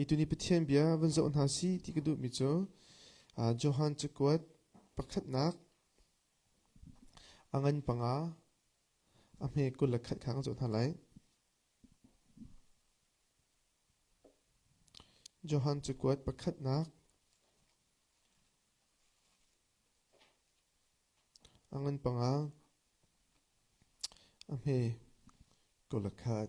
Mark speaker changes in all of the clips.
Speaker 1: I tuni Pathian bia van zoh hna si ti ka duhmi cu Johan cakuat pakhatnak a ngan panga a hme kul le khat kha kan zoh hna lai. Johan cakuat pakhatnak a ngan panga a hme kul le khat.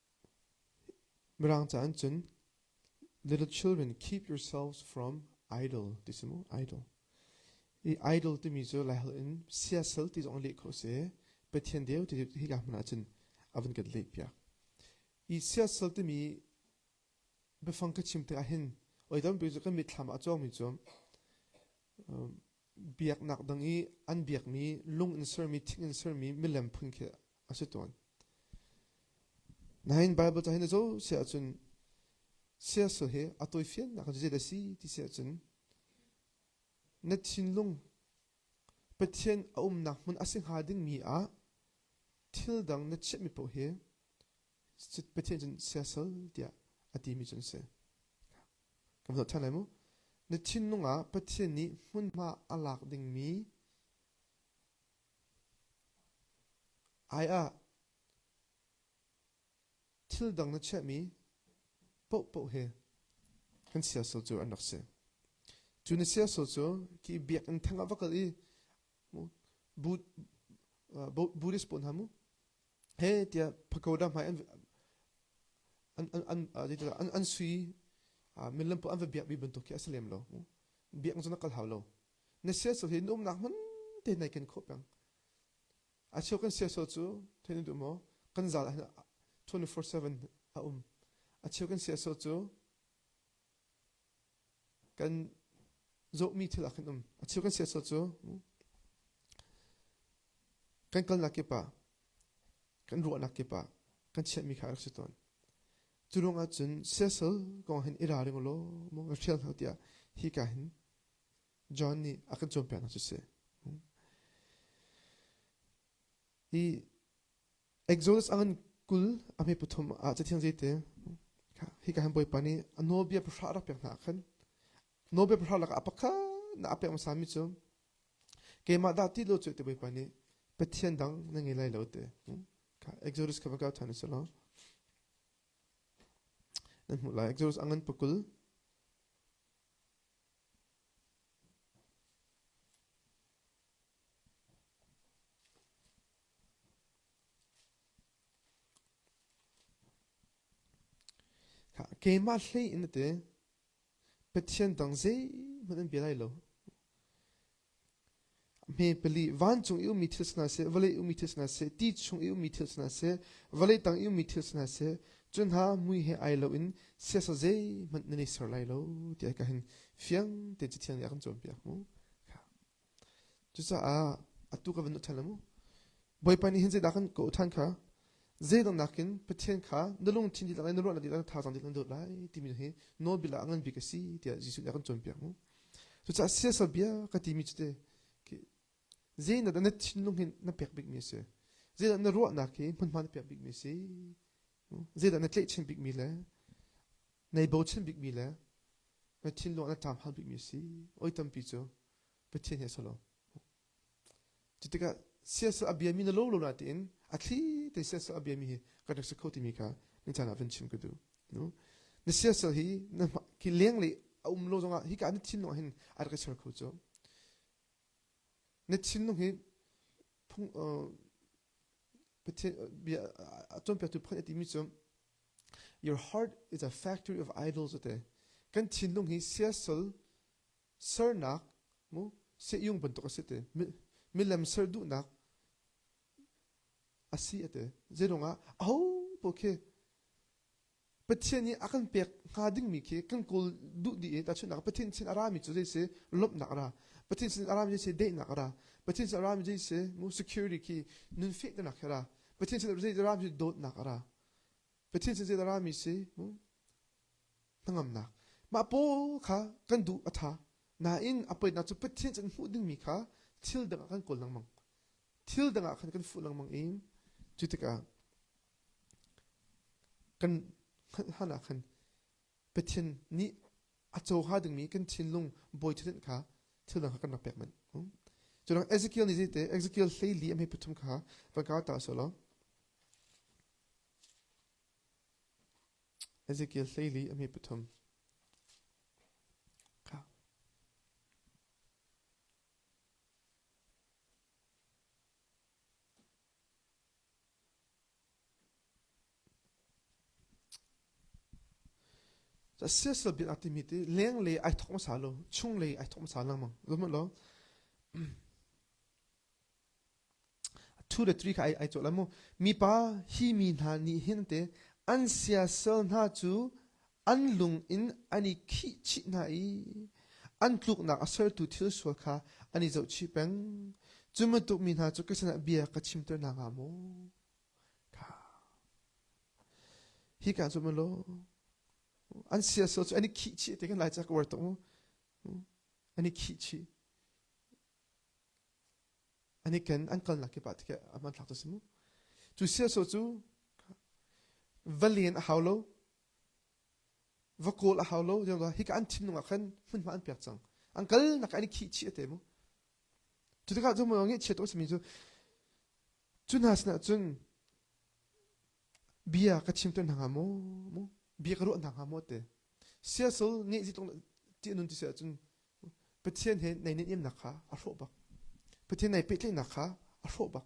Speaker 1: Mirang caah hin cun little children keep yourselves from idol ti si mu, idol. I idol timi cu laiholh in siasal ti zong leh khawh si. Pathian deu ti hi ka hmun ah cun a van kan leh piak. I siasal timi biafang ka chim tikah hin oi tampi cu kan mitthlam ah a cawngmi cu biaknak dang i an biakmi lung in sermi, thing in sermi milem phun khi a si tawn. Nain Baibal cahin a co si ahcun siasal hi a tawifiannak zeidah a si ti si ahcun na thinlung Pathian a umnak hmun a si hnga dingmi ah thil dang na chiahmi paoh hi Pathian cun siasal tiah a timi cun si. Kan zoh ṭhan lai mu. Na thinlung ah Pathian nih hmunhma a lak dingmi Ai ah thil dang na chiahmi paohpaoh hi kan siasal cu an rak si. Cu na siasal cu ki biakinn theng ah va kal i bu, Buddhist pawl hna mu, he tiah pagoda hmai an an an an an sui millam paoh an va biakmi bantuk khi a si lem lo mu. Biakinn cu na kal hau lo. na siasal hi na umnak hmun te nai ken khawh peng a cheu kan siasal cu thein duh maw kan zal ah 24/7 a um a cheu kan siasal cu kan zohmi thil ah khan um a cheu kan siasal cu kan kalnak kip ah kan ruahnak kip ah kan chiahmi kha rak si tawn cu ruang ah cun siasal kong hin i ra ring law maw nga hrial hau tiah hi ka hin John nih a kan cawnpiaknak cu si. I Exodus a ngan kul a hme pathum ah cathiang zeite hi ka han bawipa nih a nawlbia pahra rak pek hna khan nawlbia pahra lak ah pakhat na a pek hmasa mi cu keimah dah ti lo cu te bawipa nih pathian dang na ngei lai lo te Exodus kha va ka than se law nan hmuh lai Exodus a ngan pakul keimah hlei in a ti pathian dang zeihmanh an bia lai lo hme pali vancung i ummi thil si hna seh vawlei ummi thil si hna seh ti chung i ummi thil si hna seh vawlei tang i ummi thil si hna seh cu hna mui he ai loin siasa zeihmanh nan i ser lai lo ti ka hin fiang tein cu thiang nih a kan cawnpiak mu cucaah atu ka van ṭhan mu bawipa nih hin zeidah kan kawh ṭhan kha zeidang nakin pathian kha na lungthin dih na ruahnak dih na thazaang dih na dawt lai timi hi nawlbia ah a ngan bik a si tiah Jesuh nih a kan cawnpiak mu Cucaah siasal bia ka timi cu te zeinak na thinlung hin na pek bikmi a si zeidah na ruahnak hi hmunhma na pek bikmi a si zeidah na tlaihchan bikmi le nei bochan bikmi le na thinlung ah na ṭam hal bikmi a si oi tampi cu Pathian he a si lo Cutikah siasal a biami na lo lo na tiin a thli te siasal a biami hi kan rak si kho timi kha na caan ah vun chim ka duh. No? Na siasal hi na ki leng le a um lo zongah hi ka na thinlung hin a rak ser kho cu. Na thinlung hi phung bia a cawnpiaktu pakhat timi cu your heart is a factory of idols ate kan thinlung hi siasal sernak mu seiyung bantuk a si ti milem ser duhnak a si a ti zeidong ah aho paoh khi pathian i a kan pek hnga dingmi khi kan kawl duh dih i tahchunhnak pathian sin a rami cu zeisi lawmhnak ra pathian sin a rami zeisi daihnak ra pathian sin a rami zeisi mu security khi nun fehtenak he ra pathian sin a rami zeisi dawtnak a ra pathian sin zeiti a rami si mu hnangamnak. Mah paw kha kan duh a ṭha nain a poitnak cu Pathian cu an hmuh dingmi kha thil dangah kan kawl lengmang. Thil dangah khan kan fuh lengmang i cu tikah kan hlan ah khan Pathian nih a coha dingmi kan thinlung bawi thutdenh kha thil dang kha kan rak pek manh. Cunang Ezekiel nih zeite Ezekiel hleili a hme pathum kha van ka tar sawlaw. Ezekiel Hleili a mi pathum. Siasal bin ati mi ti leng le ai thawng sa lo chung le ai thawng sa lang mang zumut lo Two le three kha ai, ai cawh lai mu. Mipa hi mi hna nih hin te an siasal hna cu an lung in an i khih chih hna i an tluknak a sertu thil sual kha an i zohchih peng. Cu bantuk mi hna cu Kristen ah bia ka chimter hna hnga maw? Kha. Hi kaa zuam law an siasal cu an i khih chih ti kan lai ca ka uar tuk mu. An i khih chih. An i ken, an kalnak kip ah tikeh a hmanthlak cu si mu. Cu siasaw cu va len a hau lo, va kawl a hau lo, hika an thinlung ah khan hmunhma an pek cang. An kalnak an i khihchih a te mu. Cu tikah cu maw ngiah chiat awk simi cu, cu hna sinah cun bia ka chim tuan hna hnga maw, mu bia ka ruah hna hnga maw te. Siasal ngeih zitlung ti anun ti si ahcun Pathian he nai nihnemnak kha a hrawh bak. Pathian nai pehtlaihnak kha a hrawh bak.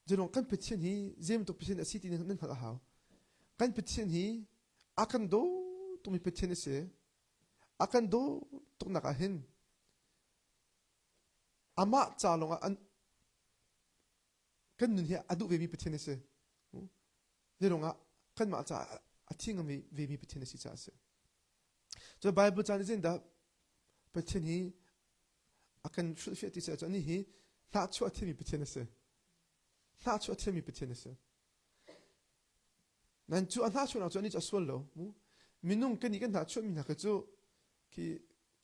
Speaker 1: Zulong kan Pathian hi zeibantuk Pathian a si ti nan hngalh a hau. Kan Pathian hi a kan daw tukmi Pathian a si. A kan daw tuknak ah hin amah ca lawngah an kan nun hi a duh vemi Pathian a si zeirung ah kanmah caah a thi ngam vemi Pathian a si caah a si cu Bible caan i dah Pathian hi a kan sulfiah ti caah ni hi hlahchuah a thiami Pathian a si hlahchuah a thiami Pathian a si nan cu a hlahchuahnak cu ani cu a sual lo minung kan i kan hlahchuahmi hna kha cu khi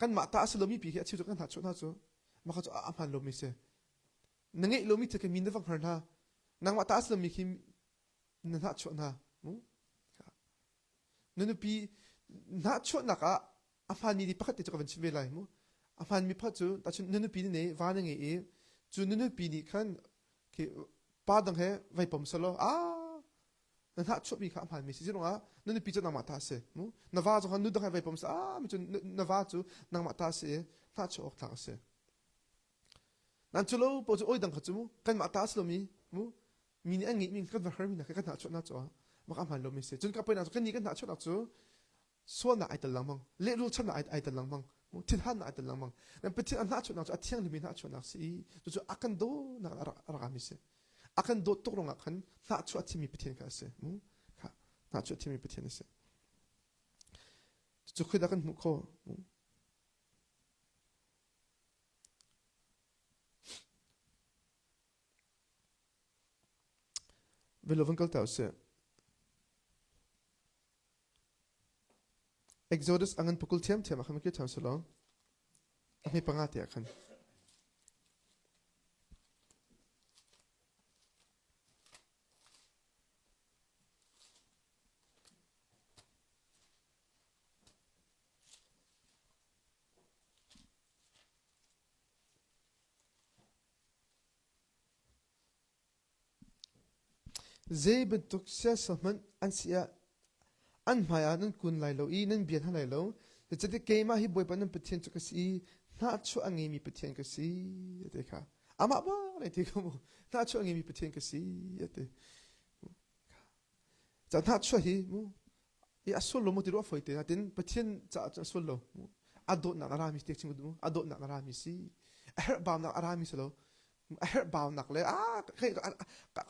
Speaker 1: kanmah ta a si lomi pi khi a cheu cu kan hlahchuah hna cu maka cu a hmaan lomi si na ngeih lomi thil kha mi na va hngar hna nangmah ta a si lomi khi na hnahchuah hna na nupi hnahchuahnak ah a hmaan mi pakhat te cu ka van chim ve lai mu a hmaan mi pakhat cu tahchun na nupi ne va na ngei i cu na nupi nih khan pa dang he vai pom salo a na hnahchuah mi kha a hmaan mi si si rungah na nupi cu nangmah ta si mu na va zong khan nu dang he vai pom sa a mi cu na va cu nangmah ta si i hnahchuah awk tlak a si Nan cu lo po cu oi dang kha cu kanmah ta a si lomi mu mi nih an ngeihmi kan va hermi hna kha kan hnahchuahnak caah mak a hmaan lomi a si. Cun ka poinak cu kan nih kan hnahchuahnak cu sualnak ai tel lengmang, lehrul channak ai tel lengmang, thinhannak ai tel lengmang. Dan Pathian a hnahchuahnak cu a thianglimi hnahchuahnak a si i cucu a kan dawnak a rakami a si. A kan dawt tuk ruangah khan hnahchuah a thimi Pathian kha a si. Hnahchuah a thimi Pathian a si. Cucu khuidah kan hmuh khawh? Ve lo van kal ta usih. Exodus angan pukul thiam thiam akhan ki tham selo. Ami panga te akhan. Zei bantuk siasal hmanh an si ah an hmaiah nan kun lai lo i nan bia hna lai lo. Zeicahtiah keimah hi Bawipa nan Pathian cu ka si i hnahchuah a ngeimi Pathian ka si, a ti kha. Amah ba na ti kha mu. Hnahchuah a ngeimi Pathian ka si, a ti. Ca hnahchuah hi mu i a sul lo mu ti ruah foi te natin pathian caah cun a sul lo a dawtnak a rami te chim mu a dawtnak a rami si a herhbaunak a rami si lo a herhbaunak le a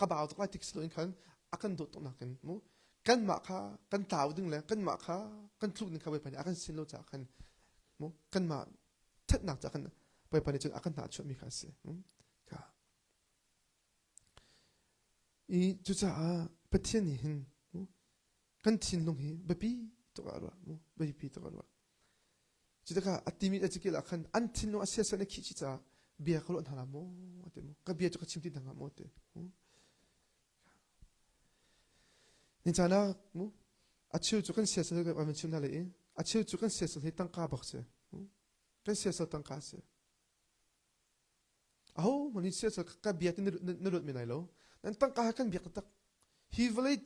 Speaker 1: ka bau tuk lai tik si lo in khan a kan dawt tuk nakin mu kanmah kha kan tlau ding le kanmah kha kan tluk ning kha voi pani a kan sin lo caah khan mu kanmah thatnak caah kan voi pani cun a kan hna chuahmi kha a si ka I cucaah Pathian nih hin kan thinlung hi biapi tuk ah ruah biapi tuk ah ruah. Cu tikah a ti mit a cikil ah khan an thinlung a siasat na khih ci caah bia ka ruah hna la maw te mu ka bia cu ka chim ti dang maw te ni canak mu a cheu cu kan siasat kan van chim hna le i a cheu cu kan siasat hi tangka bak si kan siasat tangka si Ahohmanh in siasal ka biak in na luat men lai lo. Nan tangka he kan biak taktak. Hi vawlei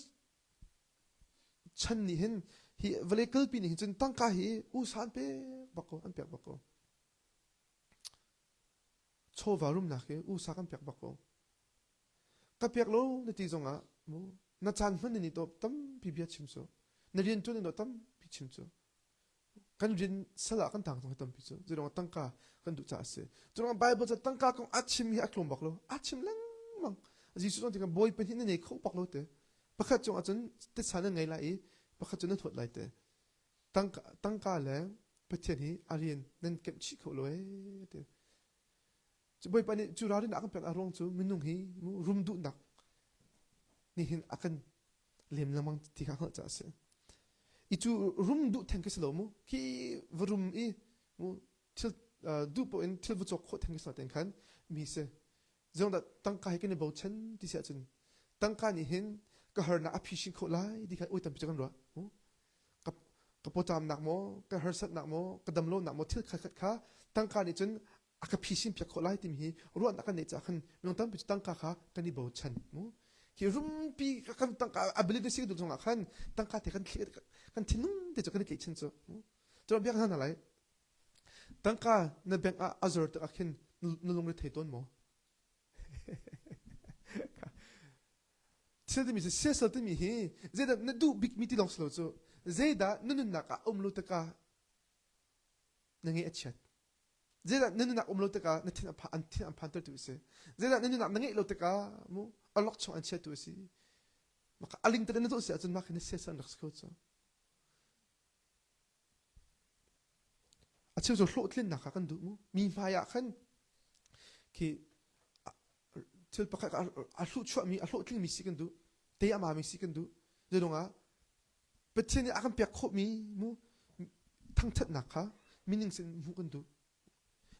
Speaker 1: chan nih hin hi vawlei kalpi nih hin cun tangka hi usa an pek bak ko an pek bak ko chawva rumnak hi usa kan pek bak ko ka pek lo na ti zong ah mu na chan hman ni to tampi bia chim su na rian tun ni to tampi chim su kan rin sal ah kan tang tang tampi cu zirong tangka kan duh caah a si zirong bible ca tangka kong a chim hi a tlawm bak lo a chim lengmang jesuh zong kan bawi pahnih na nei kho bak lo te pakhat cung ahcun titsa nan ngei lai i pakhat cu nan thawt lai te tangka tangka le pathian hi a rian nan kemh chih kho lo ee te Cu bawipa nih cu ralrin a kan pek a ruang cu minung hi rum duhnak nih hin a kan lem lengmang ti kha hngalh caah a si. I cu rum duh theng khi si lo mu. Khi va rum i mu thil duh paoh in thil va cawk khawh theng khi si tein khan mi si. Zeihmanh tangka he kan i bochan ti si ahcun tangka nih hin ka harnak a phishin khawh lai ti kha oi tampi cu kan ruah. Ka pawcamnak maw, ka harsatnak maw, ka damlonak maw thil khatkhat kha tangka nih cun a ka phisin piak khawh lai timi hi ruahnak kan neih caah khan minung tampi cu tangka kha kan i bochan mu hi rumpi kan tangka a believe si dun zongah khan tangka te kan kan thinung te cu kan i tleih chin cu cuma biak hna lai tangka na bank ah a zor tak ah khin na lung ri thei tawn maw thil timi cu siasal timi hi zeidah na duh bikmi ti lawng si lo cu zeidah na nunnak ah um lo taka na nge a chiat Zeidah na nunak um lo tikah na thin an phantertu a si. Zeidah na nunak na ngeih lo tikah mu alok chung an chiatu a si. Maka aling tada na tuh si ahcun maka na siasa an rak si kho cu. A cheu cu hlawhtlin nak kan duh mu. Mi hmai ah khan ki thil pakhat a hluh chuah mi a hlawhtling mi si kan duh. Te ama mi si kan duh. Zedong ah Pathian nih a kan pek khawhmi mu thangṭhatnak kha meaning in hmuh kan duh.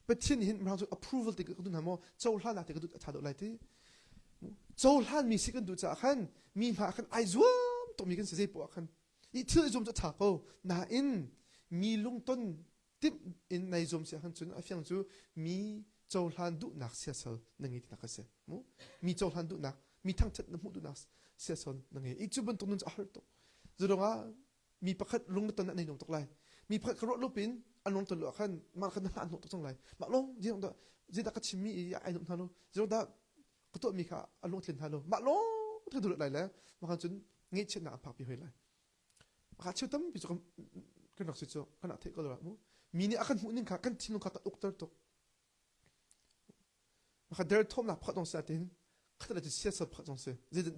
Speaker 1: Pathian nih hin mirang cu approval te ka duh hna maw cohlanak te ka duh a ṭha deuh lai ti cohlanmi si kan duh caah khan mi hna ah khan ai zuam tukmi kan si zei poah khan i thil ai zuam cu a ṭha ko nain mi lungton timh in nai zum si ahkhan cun a fiang cu mi cohlan duhnak siasal na ngei tinak a si mu mi cohlan duhnak mi thangthat na hmuh duhnak siasal na ngei i cu bantuk nun cu a har tuk zadong ah mi pakhat lung na ton ah nei nung tuk lai mi pakhat ka ruah lupin an lung ton lo ahkhan mah khan na hlah hnawh tuk cang lai mah lung zidong dah zidah ka chimmi i ai nup hna lo zidong dah ka tuah mi kha a lung tlin hna lo mah lung thang duh lai le mah khan cun ngeihchiatnak a phak pi hoi lai Maka cheu tampi cu kan rak si cu kan rak theih ko lo mu. Mi nih a kan hmuh ning kha kan thinlung kha kan ukter tuk. Maka derthawmnak pakhat dong si ahtin khatal le siasal pakhat dong si.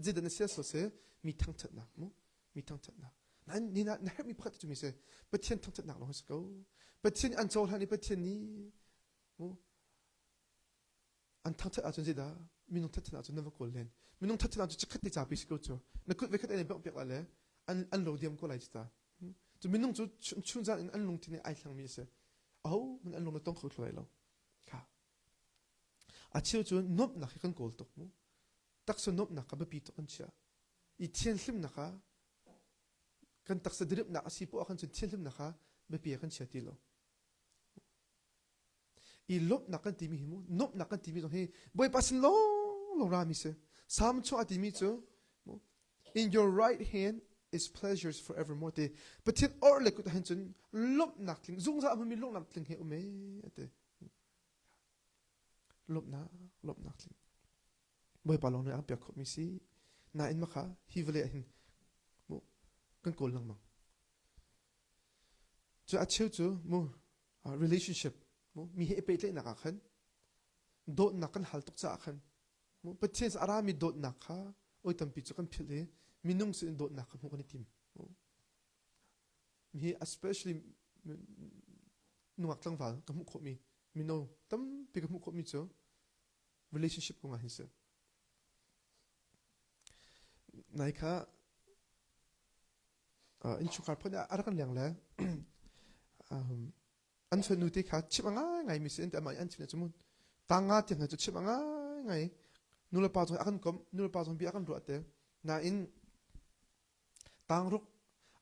Speaker 1: Zeidan na siasal si mi thangthatnak mu. Mi thangthatnak. Nain ni na herhmi pakhat cu mi si Pathian thangthatnak lawng hi si ko. Pathian nih an cohlan i Pathian nih mu an thangthat ahcun zeidah minung thatthan ahcun na va kawl len minung thatthan ahcun chikkhat te capi si ko cu na kut vekhat an bengh piak la le an an lo diam ko lai ci ta cu minung cu chun zan in an lungthin ai thlangmi a si aho man an lung na tong kho thlai lo kha a cheu cu nuamhnak hi kan kawl tuk mu taksa nuamhnak ka biapi tuk kan chia i thian hlimnak ha kan taksa diripnak a si poah kan cun thian hlimnak ha biapi kan chia ti lo i lawmhnak kan timi hi mu nuamhnak kan timi zong hi bawipa sin lawng lo rami si salm chung a timi cu in your right hand is pleasures forevermore ti pathian or le kut han cun lawmhnak tling zungzal a hmunmi lawmhnak tling he um e a ti lawmhnak lawmhnak tling bawipa lawng nih a piak khawmi si nain maka hi vale ah hin mu kan kawl lengmang cu a cheu cu mu uh, relationship mi he i pehtlaihnak ah khan dawtnak kan hal tuk caah khan Pathian a rami dawtnak kha oi tampi cu kan philh i minung sin dawtnak kha hmuh kan i tim hi especially nungak tlangval ka hmuh khawhmi mino tampi ka hmuh khawhmi cu relationship kong ah hin si nai kha innchungkhar phun ah a rak leng le an fanu te kha chimh a ngaingai mi si an ti amah an chimh cu mu tanga tiang hna cu chimh a ngaingai nulepa zong a kan kom nulepa zong bia a kan ruah te nain tangruk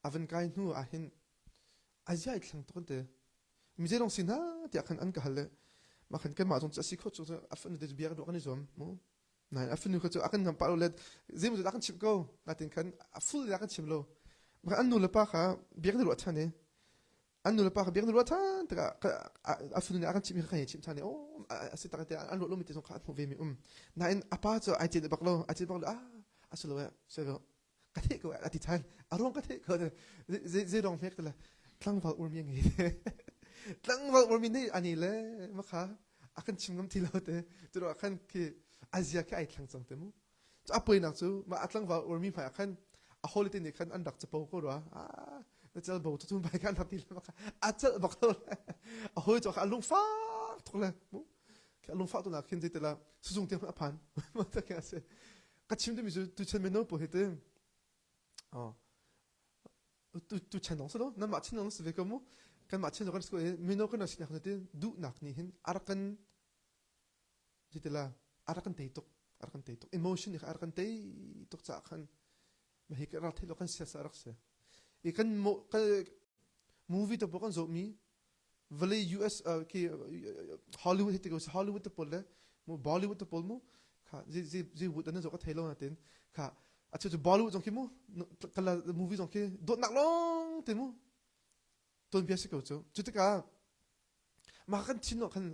Speaker 1: a van kai hnu ah hin a ziai thlang to kan te mi je dong si na tiah khan an ka hal le ma khan kan mah zong cu a si kho cu a fanu te cu bia ka ruah kan i zuam mu Nain a fanu kha cu a kan ngam pah lo let zeimaw a kan chimh ko natin khan a full a kan chim lo maka an nu le pa kha biak na ruah ṭhan i an nu le pa kha biak na ruah ṭhan tikah a fanu nih a kan chimh hi kha kan i chimh ṭhan i o a si tak te an ruah lomi te zong kha an hmuh ve mi um nain a pa cu ai cet bak lo ai cet bak lo ah a si lo eh sai lo ka the ko ka ti than aruang ka the ko ze ze rong hmek la tlangval urmi ngi tlangval urmi nei ani le makha akan chim ngam ti lo te tu ro khan ki azia ke ai thlang chang te mu to apoi nak chu ma atlangval urmi ma khan a holiday ni khan an rak chapo ko ro a na chal bo tu bai khan hati le makha a chal bak to a hoi to kha lung fa thok le mu ke lung fa to na khin je te la sujung te a phan ma ta ke ase ka chim dimi cu tuchan mino pawl hi te tuchan dong silo nan mah chin dong si ve ko mu kan mah chin kan school mino kan si nak ti duhnak ni hin arakan jitila arakan tei tuk arakan tei tuk emotion ni arakan tei tuk cha khan ma hi ka ral thei lo kan sia sa rak se i kan mo movie to kan zo mi vawlei US uh, khi Hollywood hi tikai Hollywood te pol le mu Bollywood te pol mu kha zi zi zi wood an zo ka thailo na tin kha achu chu Bollywood zong khi mu kala movie zong khi dot nak long te mu ton bia si ko chu chu tika ma kan thin no kan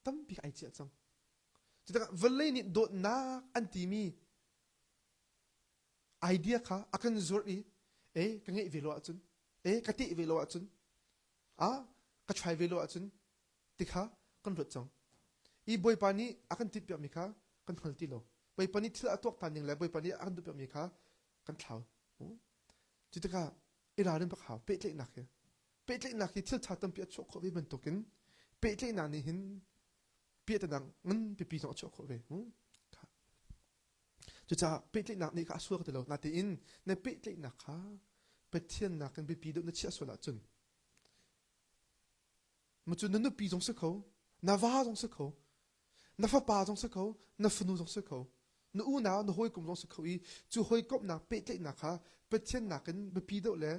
Speaker 1: tampi ai chia chang chu tika vawlei ni dot nak an ti mi idea kha a kan zulh i e ka ngeih ve lo ahcun e ka teh ve lo ahcun a ka try ve lo ahcun ti kha kan ruat cang i bawipa nih a kan timh piakmi kha kan hngal ti lo bawipa nih thil a tuak than ning le bawipa nih a kan duh piakmi kha kan thlau cu tikah i ralrin bak hau pehtlaihnak hi pehtlaihnak hi thil tha tampi a chuah khawh ve bantukin pehtlaihnak nih hin piahtana ngan pipi zong a chuah khawh ve Cucaah pehtlaihnak nih ka a sual ka ti lo. Natein na pehtlaihnak kha Pathian nakin biapi deuh na chiah sual ahcun macu na nupi zong si kho, na va zong si kho, na fapa zong si kho, na fanu zong si kho, na unau, na hawikom zong si kho i cu hawikomhnak pehtlaihnak kha Pathian nakin biapi deuh le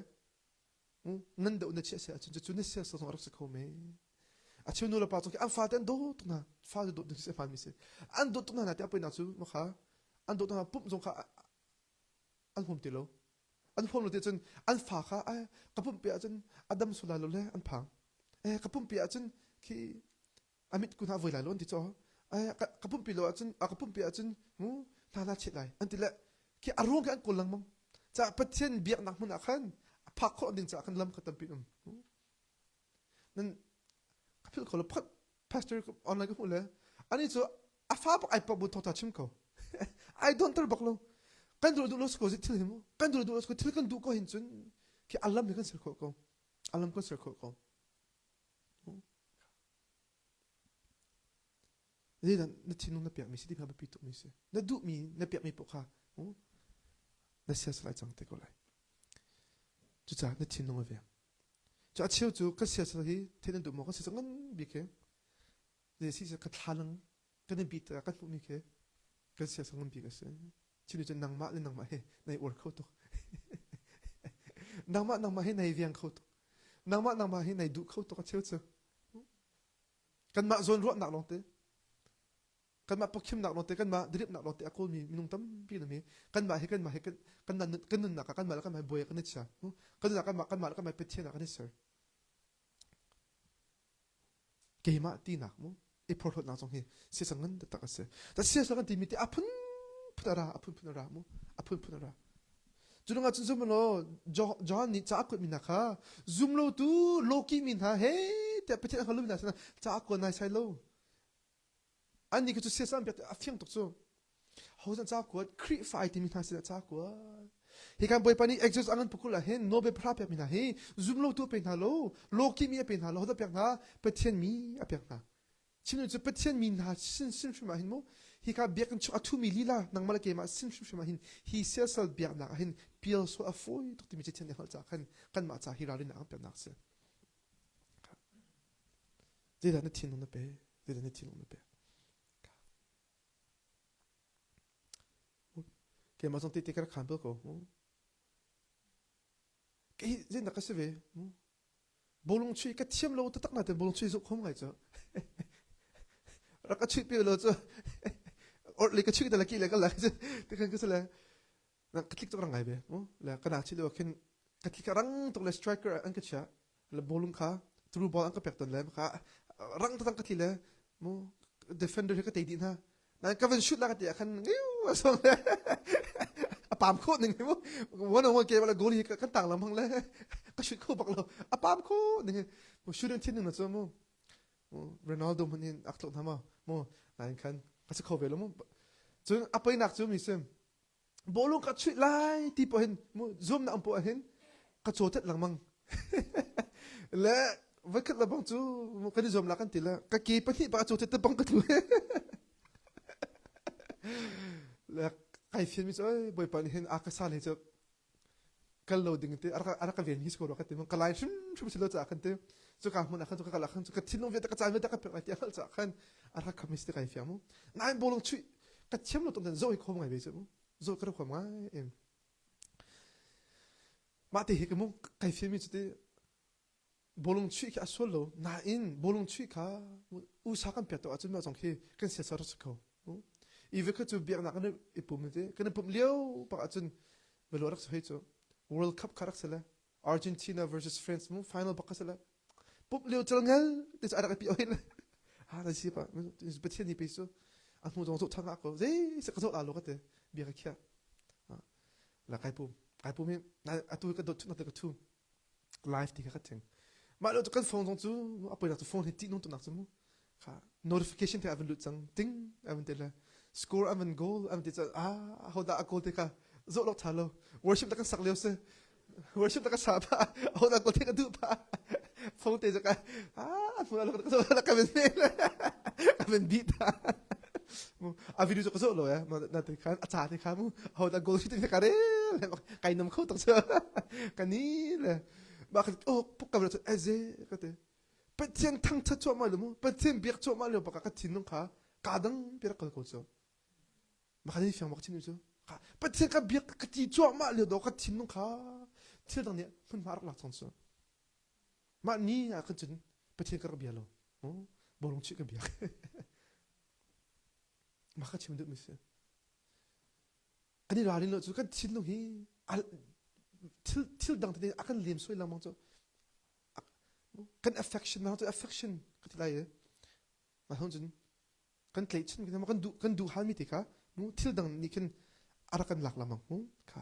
Speaker 1: nan doh na chiah seh ahcun cu na siak sawsawng a rak si kho me a cheu nu le pa cung an fate an dawt tuk hna fa dawt na si hmanmi si an dawt tuk hna hna tiah poi nak cu ma kha an dawt hna pumh zong kha an hum ti lo an hum lo ti cun an fa kha ka pumh pe ahcun a dam sula lo le an phang eh ka pumh pe ahcun khi a mit kun ah voi lai lo an ti caw ka pumpi lo ahcun a ka pumpi ahcun hu hna la chết lai an ti le khi a ruang khi an kawl lengmang caah pathian biaknak hmun ah khan a phak khawh ding caah khan lam kha tampi um nan ka phil ko lo phat pastor online ka hmuh le ani cu a fa bak ai pa bu thawta chim ko ai don tar bak lo kan duro duh lo ko zit thil himu kan duro duh lo ko thil kan duh ko hin cun khi alam hi kan ser kho ko alam kan ser kho ko Zeidah na thinlung na pekmi si ti kha biapi tukmi si. Na duhmi na pekmi poah kha na siasal ai cang te ko lai. Cucaah na thinlung a veng. Cu a cheu cu ka siasal hi thein an duh maw ka siasal ngan bik he. Zei si ka thlalang kan in pit ah kan hmuhmi khi kan siasang nganbik a si chinu cun nangmah le nangmah he nai uar kho tuk nangmah nangmah he nai viang kho tuk nangmah nangmah he nai duh kho tuk a cheu cu kanmah zawn ruahnak lawngte kanmah pokkhimnak lawngte kanmah diriapnak lawngte a kawlmi minung tampi na mi kanmah he kanmah he kan kan nunnak ah kanmah le kanmah buai kan i chia kan nunnak kanmah kanmah le kanmah pethian ah kan i ser keimah tinak mu i phorhlawtnak zong hi siasang ngan taktak a si ta siasang an timi te a phunphun a ra a phunphun a ra mu a phunphun a ra cu dang ahcun zum law John nih ca a kuatmi hna kha zum lo tu loki mi hna he tiah Pathian a hngalmi hna sinah ca a kuat nai sai lo Anih kha cu siasam biak a fiang tuk cu. Hozan ca kuat, Khrihfa ai timi hna sinah ca kuat. Hi kan Bawipa nih Exodus angan pukhul ah hin Nobel pahra pekmi hna hi zumlotu a pe hna lo, lawki mi a pe hna lo, hodah pek hna? Pathian mi a pek hna. Chimning cu Pathian mi hna sin sin hrim ah hin mu, hi ka biakinn chung a thumi lila nangmah le keimah sin hrimhrim ah hin hi siasal biaknak ah hin pial sual a fawi tuk timi cu thian a hngalh ca khan kanmah ca hi ralrinnak an peknak a si. zeidah na thinlung na pe zeidah na thinlung na pek keimah zong tete ka khan bel ko mu kei zein dak ka si ve mu bolong chui ka thiam lo taktak na te bolong chui zuk khom ngai cho rak ka chui pe lo cho or le ka chui da la ki le ka la te kan ka sala nang ka tlik tuk rangai ve mu le ka na chi lo khin ka tlik rang tuk le striker an ka chia le bolung kha through ball an ka pek ton le maka rang tatang ka thi le mu defender he ka te di na nan kavan shoot la ka ti khan ngiu so le apam kho ning mu one on one game la goal hi ka tang lam hang le ka shoot kho bak lo apam kho ning mu shoot an thin na cho mu Ronaldo man in ak thok na ma mu nan khan ka se kho ve lo mu cun apai nak chu mi sim bawlung ka chuih lai ti poh hin zoom na ang poh hin ka caw tet lengmang le voikhat lebang cu kan i zuam la kan ti le ka ke pahnih pa a caw tet te bang ka thu le kai fian mi cu bawipa nih hin a ka sa le cu kal lo ding te a rak ka ven hi ko rak ka ti ka lai hrimhrim si lo ca khan te cu ka hmun ah khan cu ka kala khan cu ka thinlung vialte ka cai vialte ka pek ti a ca khan a rak khamis te kai fiam nai bolong chui ka thiam lo tong zo hi khom ngai ve chu zo ka khom ngai em mah te hi ka mu kai fiam mi chu te bawlung chuih khi a sual lo nain bawlung chuih kha usa kan pek ahcun mah zong khi kan siasa rak si kho ive kha cu biaknak kan i pum ti kan i pum lio bak ahcun velo rak si hei cu world cup kha rak si le argentina versus france mu final bak kha si le pump lio cel ngel te cu a rak i pi oi le ha na si pa pathian ni pe su a hmu zong zo thanga ko zei se ka zo la lo ka te bia ka khia la kai pum kai pum hi atu ka dot na te ka thu live ti kha ka cheng mah lo cu kan phone zong cu a poinak cu phone hi tih nung tunak cu mu kha notification te a van lut cang ting a van te le score a van goal a van te ca ah ho da a goal te ka zo lo tha lo worship ta kan sak leo se worship ta ka sa pa ho da goal te ka du pa phone te jaka ah mu la ka zo la ka ben ne ka ben bi ta a video cu ka zo lo ya na te khan a cha te khan mu ho da goal shooting ka re le kai nom kho tak so ka ni le ba ka oh puk ka so eze ka te pathian thang tha cho ma lo mu pathian biak cho ma lo ba ka thin nong kha ka dang pi ka ko so ma ka ni fiang ma chin so ka pathian ka biak ka ti cho ma lo do ka thin nong kha thil dang ni hun ma rak la chong so Mah ni ahkhan cun Pathian ka rak bia lo. Bawlung chih ka bia. Mah ka chim duhmi si. Kan i ralin lo cu kan thinlung hi thil thil dang tete a kan lem suai lengmang cu kan affection mah cu affection ka ti lai i mah hon cun kan tleichin kan kan duh kan duh halmi te kha thil dang nih khin a rak kan lak lengmang kha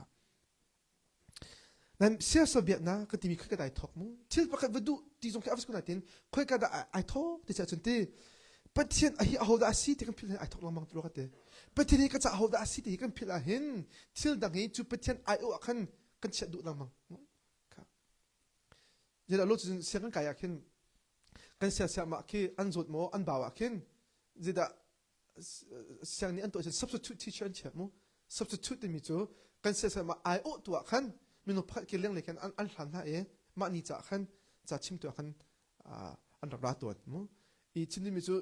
Speaker 1: Nan siasa biaknak ka timi kha ka dai thawk mu. Thil pakhat va duh ti zong khi a va kun natin khoika dah ai thawk ti cah cun ti Pathian a hi a hodah a si ti kan philh ai thawk lengmang ti lo ka ti. Pathian hi ka ca hodah a si ti kan philh ah hin thil dang hi cu Pathian ai o ah khan kan chiah duh lengmang. Zira lo cun siang kan kai ah khin kan sia sia mah khi an zawt maw an bau ah khin zidah siang nih an tuah substitute teacher an chiah mu substitute timi cu kan siasal ma ai awh tu ah khan minung pakhat ke lenglei khan an hlan hna e mah ni ca khan ca chim tu ah khan an rak ra tuan mu i chim dimi cu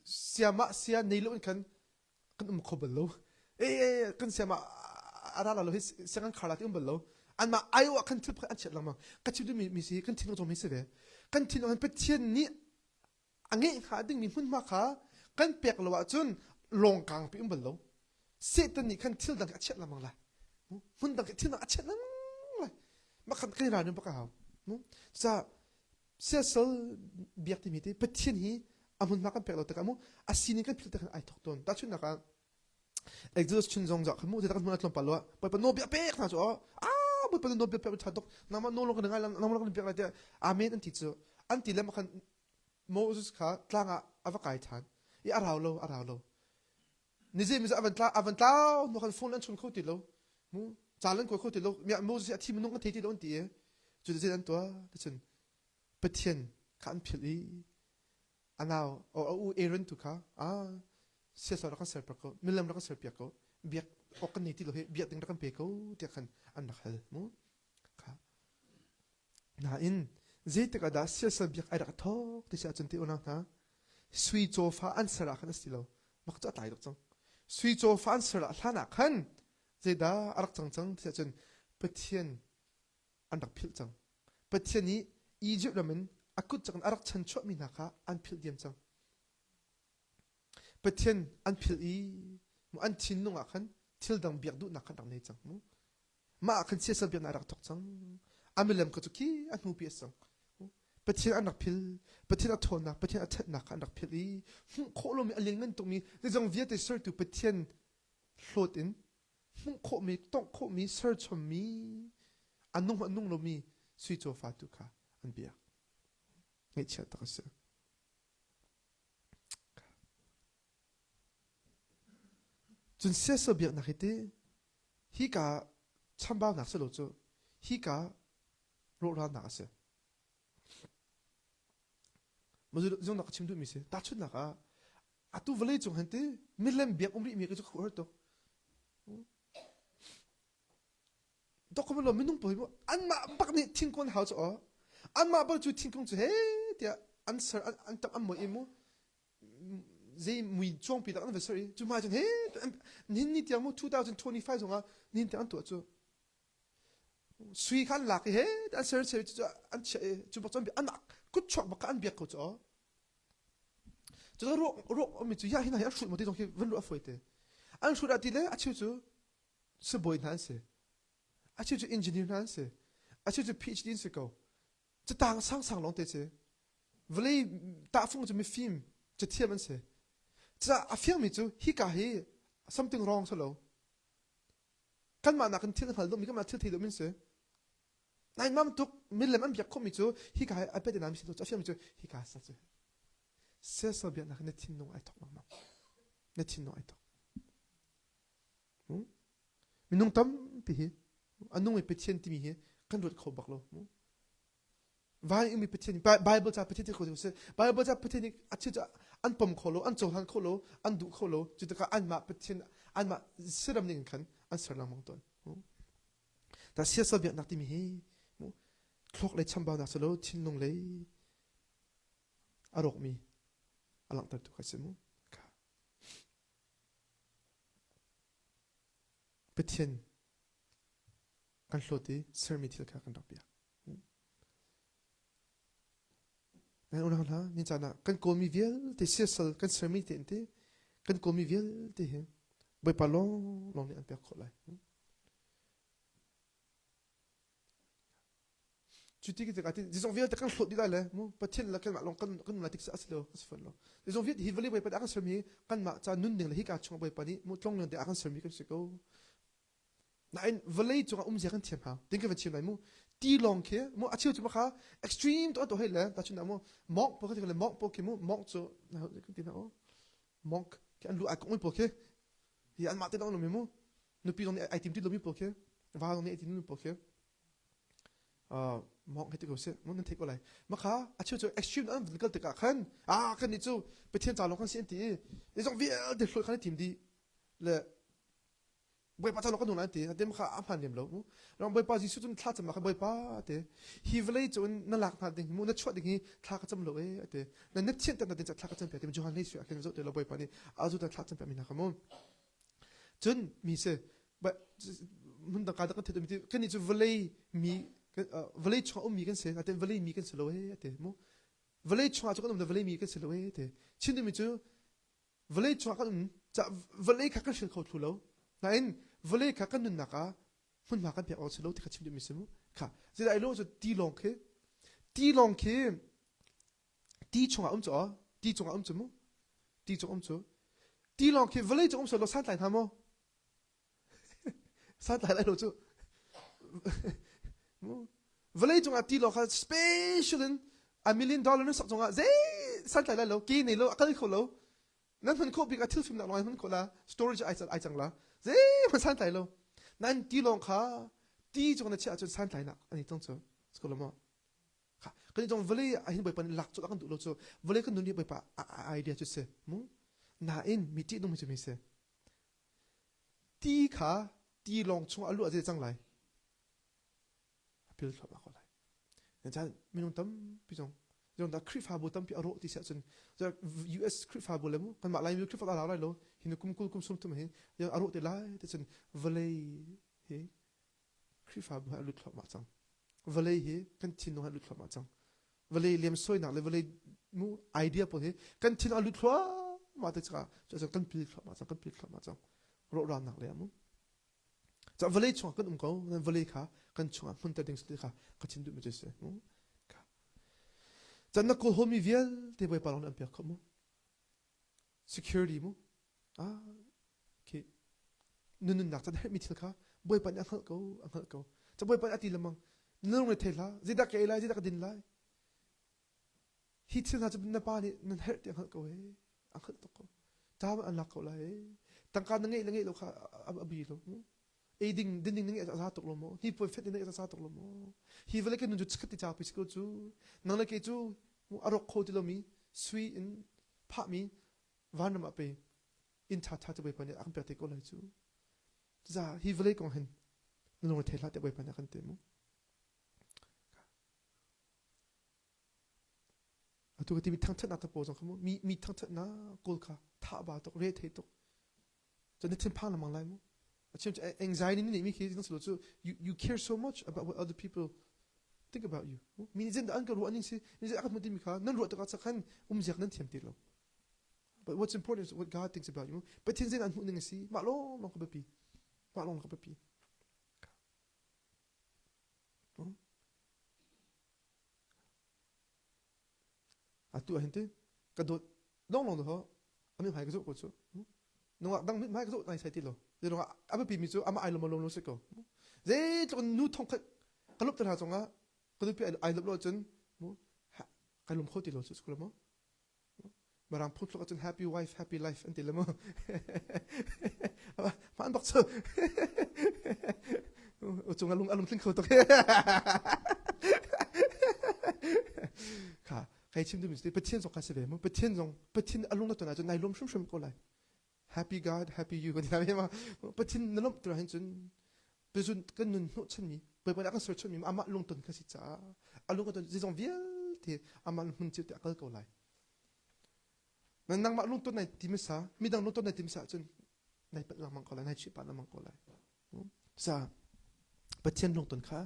Speaker 1: sia ma sia nei lo in khan kan um kho bal lo e kan sia ma ara la lo hi siang kan khar la ti um bal lo an ma ai wa kan thil pakhat an chiat lang ma ka chim dimi mi si kan thin rong mi se ve kan thin rong pe thian ni a ngeih hnga dingmi hmunhma kha kan pek lo ahcun lawng kang pi um bal lo. Satan nih khan thil dang a chiat lengmang lai. Hmun dang thil dang a chiat lengmang lai. Makhan kan ra nim baka hau. Sa siasal biak timi te Pathian hi a hmunhma kan pek lo tak amu a sinin kan phil tak ai thok ton. Ta chun nak ah Exodus chin zong zah mu te tak hnu tlom palwa pa no bia pek na chu a bawipa nu bia pek tha tok nama no long kan ngai nama long kan pek lai te amen an ti chu an ti lem khan Moses kha tlang ah ava kai than i arau lo arau lo ni je mi avan tla avan tla no khan phone an chun kho ti lo mu chalan ko kho ti lo mi Moses a thi minung ka thei ti lo an ti chu de an tua ta chun pathian kha an phil i a nau o a u Aaron tu kha a siasau rak kan ser pak ko milam rak kan ser piak ko biak ok kan ni ti lo he biak ding rak kan pe ko tiah khan an rak hal mu kha nain zeitik ada siasal biak ai rak thok ti sa chun ti ona na sui chofa an sara khan asi lo mak cha tai dok chang sui chofa an sara hlana khan zeida arak chang chang ti sa chun pathian an rak philh cang. Pathian i Izipt ram in a kut cak in a rak chan chuahmi hna kha an philh diam cang. Pathian an philh i an thinlung ah khan thil dang biak duhnak khan rak nei cang mu. Mah ah khan siasal biaknak a rak thawk cang. A milem kha cu khi a hnupi a sang. Pathian an rak phil, Pathian a ṭhawnnak, Pathian a ṭhatnak kha an rak philh i hmuh khawh lomi a lianngan tukmi zeizong vialte sertu Pathian hlawt in hmuh khawhmi, tongh khawhmi, serchommi, a nung a nung lomi sui cawfa tu kha an biak. Ngaihchiat tak a si. Cun siasa biaknak hi ti hika chambaunak si lo cu hika rawhralnak a si. Mah zong nak a chim duhmi si. Tahchunhnak ah, atu vawlei cung hin ti milem biak um rih mi cu khuar tuk dok khom lo minung pawi mu anmah bak nih thingkung hau chu aw anmah bak cu thingkung cu he tiah an ser an tam an moi imu zei mui chuang pi tak an va ser i cu ma chun he nin ni tiang mu 2025 zong ah nin tiang an tuah cu sui khan lak i he an ser ser cu an chia cu bak chon bi anak kut chuak bak an biak ko chu aw Cu ruak mi cu hiah hi hna hi an hrut mo ti zong hi van ruah a fawi te. An hrut a ti le a cheu cu sibawi hna an si. A cheu cu engineer hna an si. A cheu cu PhD an si ko. Catang sangsang lawng te cu vawlei tahfung cu mifim cathiam an si. Cucaah a fiangmi cu hika hi something wrong si lo. Kanmah nakin thil hngal lomi, kanmah thil thei lomi an si. Nai mam tuk milem an biak khomi cu hika he ai pete nan mi sin a fiangmi cu hika sa cu sel biak nak na thinlung ai thok mangmang na thinlung ai thok minung tampi hi a nung i pathian timi hi kan ruat kho bak lo vai umi pathian bible ca pathian ti kho si bible ca pathian ni a chi an pom kho lo an cohlan kho lo an duh kho lo cu taka an mah pathian an mah siram ning khan an ser lang mong ton Ta siasal biaknak timi hi thluak lei chambaunak si lo thinlung lei a rawkmi a langhter tu kai si mu Pathian kan hlawt i sermi thil kha kan rak biak Nan unau hna, ni caan ah kan kawmi vialte siasal kan sermi te in te, kan kawmi vialte hi Bawipa lawnglawng nih an pek khawh lai. Cu ti tik ahtin zizong vialte kan hlawt dih lai le mu pathian le kanmah lawng kan kan nun lai tik a si lo a si fon lo zizong vialte hi vale Bawipa dah kan sermi kanmah ca nun ding le hika chung Bawipa nih mu tlongleng te a kan sermi kan si ko Nain vawlei cungah um zia kan thiam hau. Tin kan van chim lai mu. Tilawng khi mu a cheu cu kha extreme to to he le ta chun mu monk po khi le monk po khi mu monk cu na kan ti na o monk khi an lu ai kong po khi hi an ma te dong lomi mu nupi dong ai tim ti lomi po khi va dong ai tim lomi po khi uh monk he ti ko se mun nan take ko lai ma kha a cheu cu extreme an van kal tikah khan ah kan ni cu pathian ca long kan si an ti i zong vialte hloi khan tim di le Bawipa cu ka nu nan te hatem kha a hman lem lo ram Bawipa Jesuh cun thla cam kha Bawipa te hi vlei cu in na lak hna ding mu na chuah ding hi thla ka cam lo e ate na nep thian tan tin thla ka cam pe te Johan nei suya ken zo te lo Bawipa ni azu ta thla cam pe mi na kamu cun mi se mun dang ka da kan the tu mi ti kan ni chu vlei mi vlei chung um mi kan se ate vlei mi kan se lo e ate mu vlei chung a chu kan um vlei mi kan se lo e te chin mi chu vawlei chungah kan um ca vawlei kha kan hring kho thlu lo nain vawlei kha kan nunnak ah hmunhma kan pek awk si lo ti kha chim duhmi si mu kha zeidah ai lo cu tilawng khi tilawng khi ti chungah um cu aw ti chungah um cu mu ti chung um cu tilawng khi vawlei cung um so lo santlai hna maw Santlai lai lo cu vawlei cungah ti lo kha special in a million dollar na sak cungah zei santlai lai lo ke nei lo a kal kho lo nan hman khawh bik a thil fim nak lawng hman khawh la storage ai ai cang la zei hman santlai lo nan ti lawng kha ti cung na chiah ahcun santlai nak an tong cu sko lo mo kan jong vale a hin boipan lak chu kan du lo chu vale kan nun ni boipa idea chu se mu na in mi ti nung mi chu mi se Ti kha tilawng chung a luah ze cang lai. A pil thluahmah ko lai. Chan minung tampi zong zong dah Khrihfabu tampi a rawh ti siah cun US Khrihfabu le mu kanmah Laimi Khrihfa dah lai lo hin kum kul kum sung tum hin a rawh te lai ti cun vawlei hi Khrihfabu hi a lut thluahmah cang. Vawlei hi kan thinlung hi a lut thluahmah cang. Vawlei liamsuainak le vawlei mu idea pawl hi kan thinlung a lut thluahmah te cangah cuacang kan pil thluahmah cang, kan pil thluahmah cang. Rawhralnak le a mu. Cah vawlei chungah kan um ko, vawlei kha kan chungah hmunter ding ti kha ka thin duhmi cu si. Can na kawhawmi vialte Bawipa lawng nih an pek kho mu. security mu ah khi nunnak can herhmi thil kha bawipa nih a hngalh ko a hngalh ko ca bawipa nih a ti lemang nung re thei hla zeidah ka ei lai zeidah ka din lai hi thil hna cu na pa nih nan herh ti a hngalh ko e a hngalh tuk ko ca an lak ko lai e tangka na ngeih le ngeih lo kha a bi lo eiding dinding na ngeih a za tuk lo maw hnipuan fet na ngeih a za tuk lo maw hi vale ke nun cu chikat ti cak pi ko cu nang le ke cu a rawk kho ti lomi sui in phahmi van ram ah pe in tha tha te bai pani a kan pe te ko lai cu za hi vale kong hen na lung thela te bai pani kan te mu atu ka ti mi thangthat na ta po zong khamu mi mi thangthat na kol kha tha ba tok re thei tok Cun na thinphang lengmang lai mu. A chim anxiety na neihmi khi na cu you, you care so much about what other people think about you. Mi nih an ka ruah ning si, mi nih an ka hmuh timi kha nan ruah tikah cak khan umziak nan thiam ti lo. But what's important is what God thinks about you. Pathian zein an hmuh ning asi. Mah lawng lawng ka biapi. Mah lawng ka biapi. atu ah hin ti ka dawt longlong to ami hmai ka zoh ko cu nungak dang mit hmai ka zoh nai sai ti lo ze nungak a biapi mi cu ama ai lom lom lo si ko zei tluk nu thong khat ka lup tara chong ah ka nupi ai lop lo cun mu kai lum kho ti lo cu school mo Marang phum tluk ahcun happy wife, happy life an ti le mu. Ma an bak chu. Ucung alung alung tling kho tuk. Kha, kai chim dum sti pathian zong ka se ve mu. Pathian zong pathian alung na tona cu nai lom hrim hrim ko lai. happy God, happy you kan ti hna ve ma. Pathin na lawmh tura hin cun pezun kan nun hnawhchanmi, puipun a kan serchanmi amah lungton kan si caah a lung ka ton zeizong vialte amah hmun cio te a kal ko lai. Na nangmah lungton nai timisa, midang lungton nai timisa ahcun nai pat lengmang ko lai, nai chih pat lengmang ko lai. Sa, Pathian lungton kha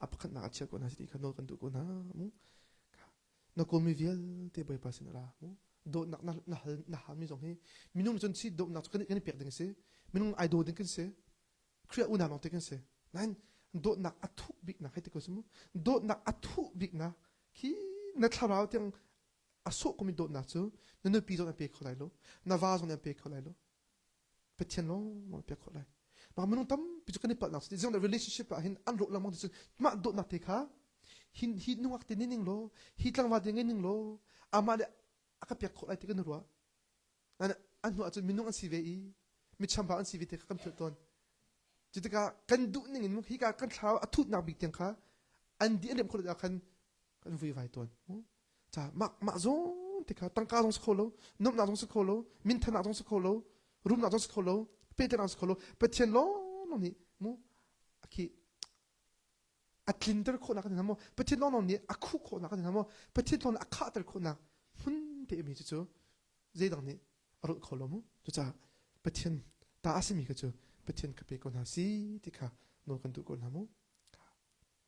Speaker 1: a pakhatnak a chia ko hna, si ti kha nawl kan duh ko hna. na kawlmi vialte Bawipa sin ra mu dawtnak na, na, hal, na halmi zong hi minung cun si dawtnak cu kan, kan i pek ding si minung ai daw ding kan si Khrih unau lawng te kan si nain dawtnak a thuk biknak hei ti ko mu dawtnak a thuh biknak khi na thlarau tiang a sawh komi dawtnak cu na nupi zong an pe kho lai lo na va zong an pe kho lai lo Pathian lawngmang te khawh lai. Mah minung tampi cu kan i palhnak cu ziang le relationship ah hin an rawh lengmang ti cun mah dawtnak te kha hi hi nungak te nih ning law hi tlangva te ngai ning law amah le a ka pek khawh lai ti kan i ruah an hnu ahcun minung an si ve i mi chambau an si ve te kha kan philh tawn cu tikah kan duh ning in hika kan thlau a thutnak bik tiang kha an di an remh khawh ah khan kan vui vai tawn ca mah mah zong te kha tangka zong si kho lo nomnak zong si kho lo minthanak zong si kho lo rumnak zong si kho lo petenak si kho lo pathian lawnglawng nih mu akhi a tlinter khawhnak kan mo pathian lawnglawng nih a khuh khawhnak kan mo pathian lawnglawng a khahter khawhnak hmun te mi cu cu zeidang nih a rulh kho lo mu cucaah pathian ta asimi ka cu pathian ka pe ko hna si ti kha nawl kan duh ko hna mu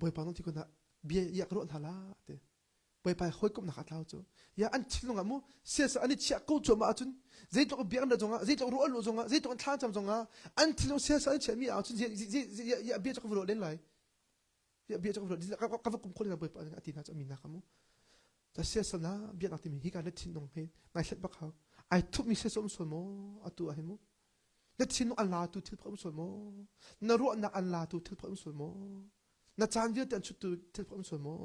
Speaker 1: Bawipa na ti kun ah bia iak ruah hna la te Bawipa hawikomhnak a tlau cu ya an thilung ah mu siasa an i chiah ko cuam ah cun zeitluk biak an zong ah zeitluk ruah lu zong ah zeitluk an thlacam zong ah an thilung siasa an chiahmi ah cun ya bia cak ruah len lai ya bia cak ruah ka va kum khol na Bawipa a ti na mi na ka mu ta siasa na bia nak timi hi ka na thin nong he ngai thlat bak hau ai thup mi se som son mo atu a hemu Na thinlung an latu thil phak um sual maw? Na ruahnak an latu thil phak um sual maw? Na caan vialte an chuttu thil phak um sual maw?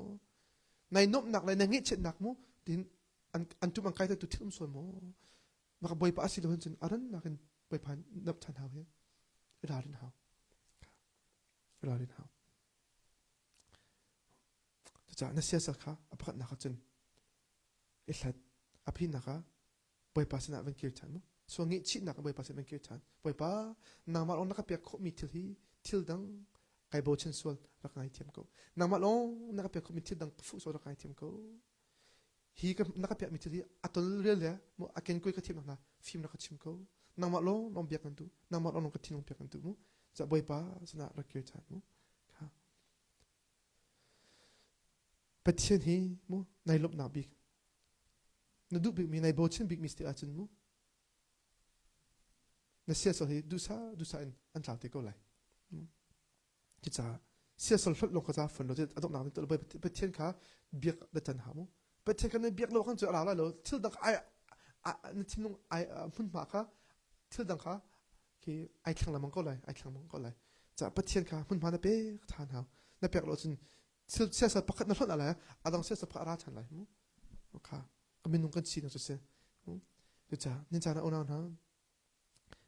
Speaker 1: Nai nuamhnak le na ngeihchiatnak mu tin an an tum an kai tu thil um sual maw? Maka bawipa asi lo cun aran nakin bawipa nap than hau he rarin hau rarin hau caca na siasa kha apakhat nak cun ihlat aphi naka Bawipa sinah van kir ṭhan u. Sual ngaihchihnak a Bawipa sinah van kir ṭhan. Bawipa, nangmah lawng na ka pekkhawhmi thil hi thil dang kai bochan sual rak ngaithiam ko. Nangmah lawng na ka pekkhawhmi thil dang ka fuh sual rak ngaithiam ko. Hi ka, na ka pekmi thil hi a tolrial le a kenkue ka thiamnak hna fim rak ka chim ko. Nangmah lawng lawng biak nan duh. Nangmah lawng lawng ka thinlung pek nan duh mu. Cah Bawipa sinah rak kir ṭhan u. Pathian hi mu nai lawmhnak bik na duh bikmi nai bochin bikmi si ahcun mu na siasal hi duhsa duhsa in an tlau te ko lai cucaah siasal hlonh lawng kha ca fun lo cu adok nak to pathian kha biak batan ha mu pathian kha na biak lo kan cu ara lai lo thil dang ai na thinlung ai hmunhma kha thil dang kha khi ai thlang lamang ko lai ai thlang lamang ko lai cah pathian kha hmunhma na pek than hau na pek lo cun siasat pakhat na hlonh lai adang siasat pakhat ra than lai mu kha minung kan si na siseh cuca ninca na unau hna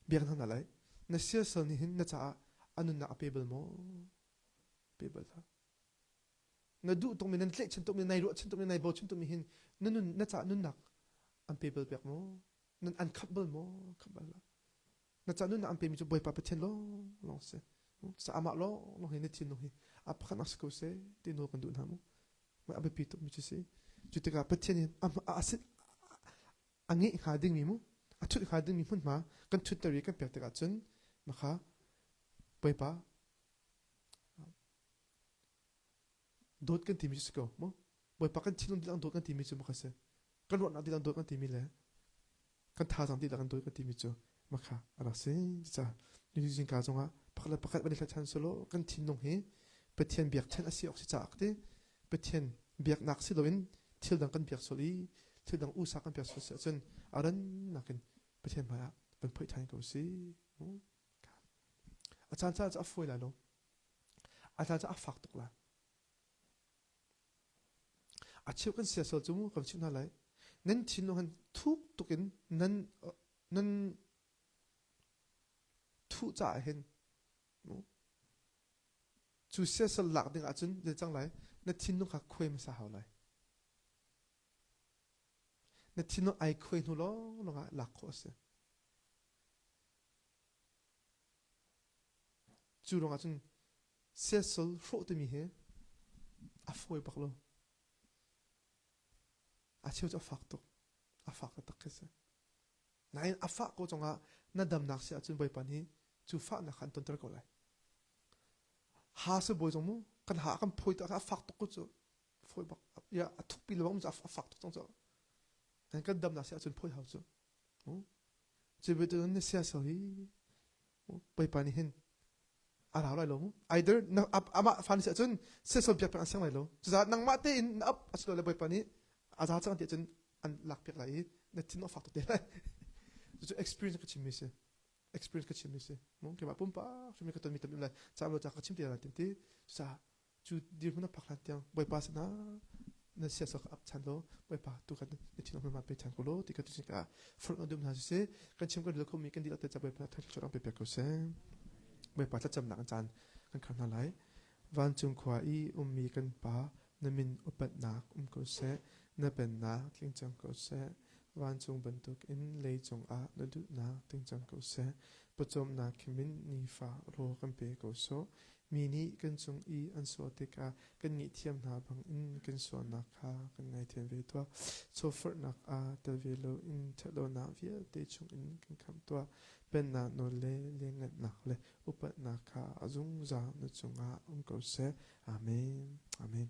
Speaker 1: biak hna lai na siasal nih hin na caah anunnak a pe bal maw pe bal ta na duh tungmi nan tleh chin tungmi nai ruah chin tungmi nai bo chin tungmi hin na nun na caah nunnak an pe bal pek maw nan an khat bal maw khat bal Na ca nun na an pemi cu Bawipa Pathian lawnglawng si. Sa amah lawnglawng hi na thinlung hi a pakhat ak si ko seh ti nawl kan duh hna mu. Mai a biapi tuk mi cu si. Cu tikah Pathian hi a ngeh hnga dingmi mu, a thut hnga dingmi hmunhma kan thutter i kan pek tikah cun makha Bawipa dawt kan timi cu si ko mu bawipa kan thinlung dihlak dawt kan timi cu makha si kan ruahnak dihlak dawt kan timi le kan thazang dihlak kan dawt kan timi cu makha a rak si ca nu zingka zongah pakhat le pakhat van i than solo kan thinlung hi pathian biak chen asi ok si caak ti pathian biaknak si loin thil dang kan biak sol i thil dang usa kan biak sol si ahcun aran nakin pathian hmaiah kan phoi than ko si a caan ca a fawi lai lo A hla cu a fak tuk lai. A cheu kan siasal cu kan chimh hna lai. Nan thin no han thuk tuk in nan nan thuh caah hin cu siasal lak ding ahcun le cang lai na thinlung kha khuai hmasa hau lai na thinlung ai khuai hnu lawng lawng ah lak khawh a si Cu ruangah cun siasal hrawh timi hi a fawi bak lo. A cheu cu a fak tuk. A fak taktak khi si. Nain a fah ko cungah na damnak si ahcun Bawipa nih cu fahnak kha an tonter ko lai. Ha si bawi zong mu, kan ha kan phawi tikah a fak tuk cu cu fawi bak. Ya, a thukpi le bak mu cu a fak tuk cang cu. Nain kan damnak si ahcun phawi hau cu. Cubetu na siasal hi peipa nih hin a rau lai lo mu. Either amah fa nih cun siasal biak peng an sang lai lo. Cucaah nangmah tein na ap a si lo le bawipa nih a za cang ti cun an lak piak lai i na thin a fak tuk te lai. Cucu experience ka chimmi si. Experience ka chimmi si. Keimah pumpak hrimmi ka tonmi ka tonmi tam lai. Cam lo ca ka chim te lai tin ti. Cucaah cu dirhmun a phak hlan tiang bawipa sinah nan siasal ka ap chan law bawipa tu kan na thinang hmama pe chan ko law ti ka tuchin ka furung dum hna sisih kan chim kan dil kho mi kan dil te cha bawipa thang chor ang pe pe ko seh bawipa thlacam nak chan kan khar hna lai vancung khua i ummi kan pa na min upatnak um ko seh na pennak tling cang ko seh vancung bantuk in lei cungah na duhnak ting cang ko seh pawcawmnak khimin nifa ro kan pe ko so Mi nih kan cung i an sual tikah kan ngaihthiam hna bangin kan sualnak kha kan ngaithiam ve tuah. Chawforhnak ah tel ve loin ṭhatlonak vialte chungin kan khamh tuah. Pennak nawl le lianngannak le upatnak kha a zungzal na cungah um ko seh. Amen. Amen.